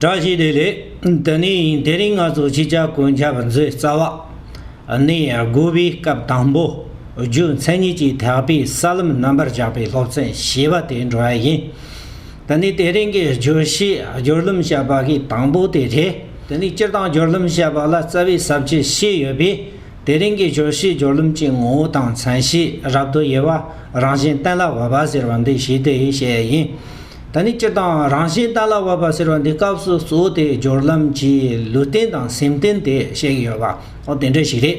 བཀྲ་ཤིས་བདེ་ལེགས། འདི་ནི་དེ་རིང་ང་ཚོ་སྤྱི་ཁྱབ་གོ་མཁྱབ་མཛོད་རྩ་བ་ནས་དགུ་བའི་སྐབས་དང་པོ་རྒྱུ་མཚན་གཉིས་ཀྱིས་ཐེག་པའི་ས་ལམ་རྣམ་པར་བཞག་པའི་སློབ་ཚན་ཞེས་པ་དེ་འགྲོ་བ་ཡིན། འདི་ནི་དེ་རིང་གི་བརྗོད་གཞི་སྦྱོར་ལམ་བཤད་པ་གི་དང་པོ་དེ་རེད། དེ་ནི་སྤྱིར་བཏང་སྦྱོར་ལམ་བཤད་པ་ལ་རྩ་བའི་ཟབ་ཁྱད་ཤེས་ཡོད་པས་དེ་རིང་གི་བརྗོད་གཞི་སྦྱོར་ལམ་གྱི་ངོ་བོ་དང་མཚན་གཞི་རབ་ཏུ་དབྱེ་བ་རང་བཞིན་གཏན་ལ་དབབ་པ་ཟེར་བ་འདི་ཞི་བདེའི་གཞས་ཡིན། ད་ནི་སྤྱིར་བཏང་རང་བཞིན་ལྟ་ལ་བབ་པ་ཟེར་བ་འདི་སྐབས་སུ་གཙོ་བོ་དེ་སྦྱོར་ལམ་གྱི་ལུས་རྟེན་དང་སེམས་རྟེན་དེ་བཤད་ཀྱི་ཡོད་པའོ་དེ་འདྲ་ཞིག་རེད།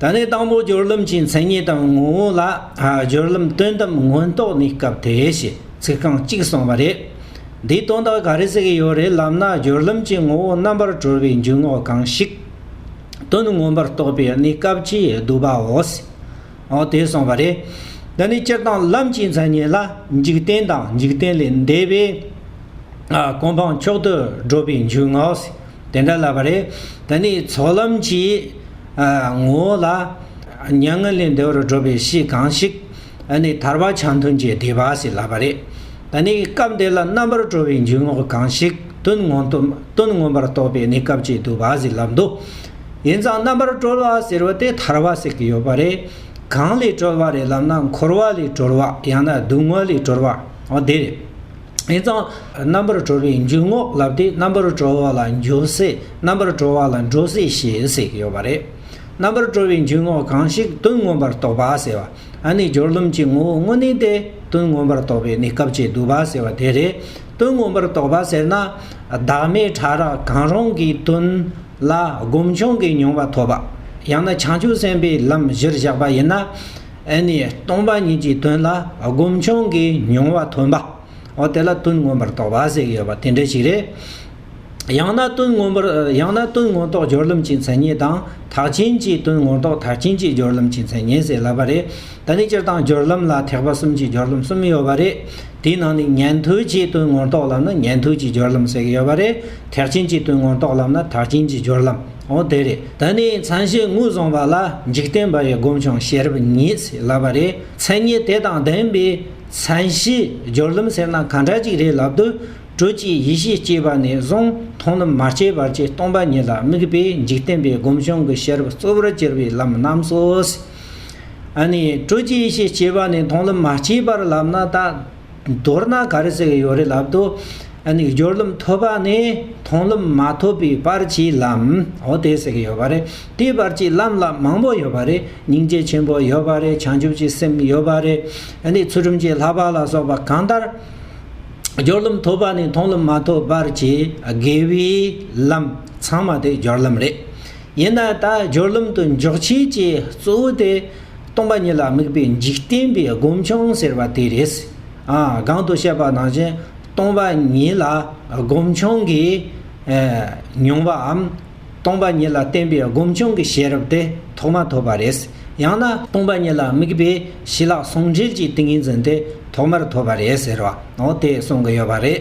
ད་ནི་དང་པོ་སྦྱོར་ལམ་གྱི་མཚན་ཉིད་དང་ངོ་བོ་ལ་སྦྱོར་ལམ་སྟོན་ཐབས་མངོན་རྟོགས་ནི་སྐབས་དེའི་ཞེས་ཚིག་རྐང་གཅིག་གསུངས་པ་རེད། འདིས་དོན་དག་ག་རེ་ཟེར་གྱི་ཡོད་རེད་ལབ་ན་སྦྱོར་ལམ་གྱི་ངོ་བོ་རྣམ་པར་གྲོལ་བའི་འཇུག་ངོགས་གང་ཞིག། དོན་མངོན་པར་རྟོགས་པའི་གནས་སྐབས་ཀྱིས་བསྡུས་པའོ། འོ་དེས་སོང་བ་རེད། འདི་ནི་སྤྱིར་བཏང་ལམ་གྱི་མཚན་ཉིད་ལ་འཇིག་རྟེན་དང་འཇིག་རྟེན་ལས་འདས་པའི་གོ་འཕང་མཆོག་ཏུ་བགྲོད་པའི་འཇུག་ངོགས་དེ་འདྲ་ལབ་པ་རེད། འདི་ནི་ཚོགས་ལམ་གྱི་ངོ་བོ་ལ་མྱ་ངན་ལས་འདས་པར་བགྲོད་པའི་གཞི་གང་ཞིག་ནི་ཐར་པ་ཆ་མཐུན་གྱི་བདེ་བ་ཞིག་ལབ་པ་རེད། འདི་ནི་སྐབས་འདི་ལ་རྣམ་པར་གྲོལ་བའི་འཇུག་ངོགས་གང་ཞིག་དོན་མངོན་པར་རྟོགས་པའི་གནས་སྐབས་ཀྱི་བསྡུ་བ་ཞིག་ལབ་འདུག། ཡིན་ཙང་རྣམ་པར་གྲོལ་བ་ཟེར་བ་དེ་ཐར་བ་ཟེར་གྱི་ཡོད་པ་རེད། གང་ལས་གྲོལ་བ་རེད་ལབ་ན་འཁོར་བ་ལས་གྲོལ་བ་ཡང་ན་སྡུག་བསྔལ་ལས་གྲོལ་བ་དེ་རེད། ཡིན་ཙང་རྣམ་པར་གྲོལ་བའི་འཇུག་ངོགས་ལབ་དུས་རྣམ་པར་གྲོལ་བ་ལ་འཇོག་སྲིད་རྣམ་པར་གྲོལ་བ་ལ་འགྲོ་སྲིད་ཞེས་ཟེར་གྱི་ཡོད་པ་རེད། རྣམ་པར་གྲོལ་བའི་འཇུག་ངོགས་གང་ཞིག་དོན་མངོན་པར་རྟོགས་པ་ཟེར་བ་ཨ་ནི་སྦྱོར་ལམ་གྱི་ངོ་བོ་དངོས་གནས་ཏེ་དོན་མངོན་པར་རྟོགས་པའི་གནས་སྐབས་ཀྱི་བསྡུ་བ་ཟེར་བ་དེ་རེད། དོན་མངོན་པར་རྟོགས་པ་ཟེར་ན་བདག་མེད་ཕྲ་རགས་གང་རུང་གི་དོན། ལ་སྒོམ་བྱུང་གི་མྱོང་བ་ཐོབ་པ། ཡང་ན་བྱང་ཆུབ་སེམས་དཔའི་ལམ་གཞིར་བཞག་པ་ཡིན་ན། ཨེ་ནས་སྟོང་པ་ཉིད་ཀྱི་དོན་ལ་སྒོམ་བྱུང་གི་མྱོང་བ་ཐོན་པའོ། དེ་ལ་དོན་མངོན་པར་རྟོགས་པ་ཟེར་ཡོད་པ་དེ་འདྲ་ཞིག་རེད། ཡང་ན་དོན་མངོན་པར་ཡང་ན་དོན་མངོན་རྟོགས་སྦྱོར་ལམ་གྱི་མཚན་ཉིད་དང་དག་ཆེན་གྱི་དོན་མངོན་རྟོགས་དག་ཆེན་གྱི་སྦྱོར་ལམ་གྱི་མཚན་ཉིད་ཟེར་ལབ་པ་རེད། ད་ནི་སྤྱིར་བཏང་སྦྱོར་ལམ་ལ་ཐེག་པ་གསུམ་གྱི་སྦྱོར་ལམ་གསུམ་ཡོད་པ་རེད། དེའི་ནང་ནས་ཉན་ཐོས་ཀྱི་དོན་མངོན་རྟོགས་ལམ་ལ་ཉན་ཐོས་ཀྱི་སྦྱོར་ལམ་ཟེར་གྱི་ཡོད་པ་རེད། ཐེག་ཆེན་གྱི་དོན་ངོ་རྟོགས་ལམ་ལ་ཐག་ཆེན་གྱི་སྦྱོར་ལམ། འོ་དེ་རེད། ད་ནི་མཚན་ཤས་ངོས་བཟུང་བ་ལ་འཇིག་རྟེན་པ་ཡི་སྒོམ་བྱུང་ཤེས་རབ་ངེས་ཟེར་ལབ་པ་རེད། མཚན་ཉིད་དེ་དང་ལྡན་པའི་མཚན་ཤས་སྦྱོར་ལམ་ཟེར་ན་ག་འདྲ་ཅིག་རེད་ལབ་དུས། དྲོད་སྐྱེས་ཡེ་ཤེས་སྐྱེས་པ་ནས་བཟུང་མཐོང་ལམ་མ་སྐྱེས་བར་གྱི་སྟོང་པ་ཉིད་ལ་དམིགས་པའི་འཇིག་རྟེན་པའི་སྒོམ་བྱུང་གི་ཤེས་རབ་གཙོ་བོར་གྱུར་པའི་ལམ་རྣམས་སོ། ཨ་ནི། དྲོད་སྐྱེས་ཡེ་ཤེས་སྐྱེས་པ་ནས་མཐོང་ལམ་མ་སྐྱེས་པར་ལབ་ན་ད། མདོར་ན་ག་རེ་ཟེར་ཡོད་རེད་ལབ་དུ། སྦྱོར་རློམ་ཐོབ་པ་ནི་མཐོང་རློམ་མ་ཐོབ་པའི་བར་གྱི་ལམ། འོ་དེ་ཟེར་གྱི་ཡོད་པ་རེད། དེའི་བར་གྱི་ལམ་ལ་མང་པོ་ཡོད་པ་རེད། སྙིང་རྗེ་ཆེན་པོ་ཡོད་པ་རེད་བྱང་ཆུབ་ཀྱི་སེམས་ཡོད་པ་རེད། ཚུལ་ཁྲིམས་ཀྱི་ལྷག་པ་ལ་སོགས་པ་གང་ལྟར། སྦྱོར་རློམ་ཐོབ་པ་ནི་མཐོང་རློམ་མ་ཐོབ་བར་གྱི་དགེ་བའི་ལམ་ཚང་མ་དེ་སྦྱོར་ལམ་རེད། ཡིན་ན་ད་སྦྱོར་རློམ་དུ་འཇོག་བྱེད་ཀྱི་གཙོ་བོ་དེ། སྟོང་པ་ཉིད་ལ་དམིགས་པའི་འཇིག་རྟེན་པའི་སྒོམ་བྱུང་ཟེར་བ་དེ་རེད། གང་དུ་བཤད་པ་ནང་བཞིན་སྟོང་པ་ཉིད་ལ་སྒོམ་བྱུང་གི་མྱོང་བའམ། སྟོང་པ་ཉིད་ལ་བརྟེན་པའི་སྒོམ་བྱུང་གི་ཤེས་རབ་དེ་ཐོག་མ་ཐོབ་པ་རེད། ཡང་ན། སྟོང་པ་ཉིད་ལ་དམིགས་པའི་ཞི་ལྷག་ཟུང་འབྲེལ་གྱི་ཏིང་ངེ་འཛིན་དེ་ཐོག་མར་ཐོབ་པ་རེད་ཟེར་བའོ་དེ་གསུང་གི་ཡོད་པ་རེད།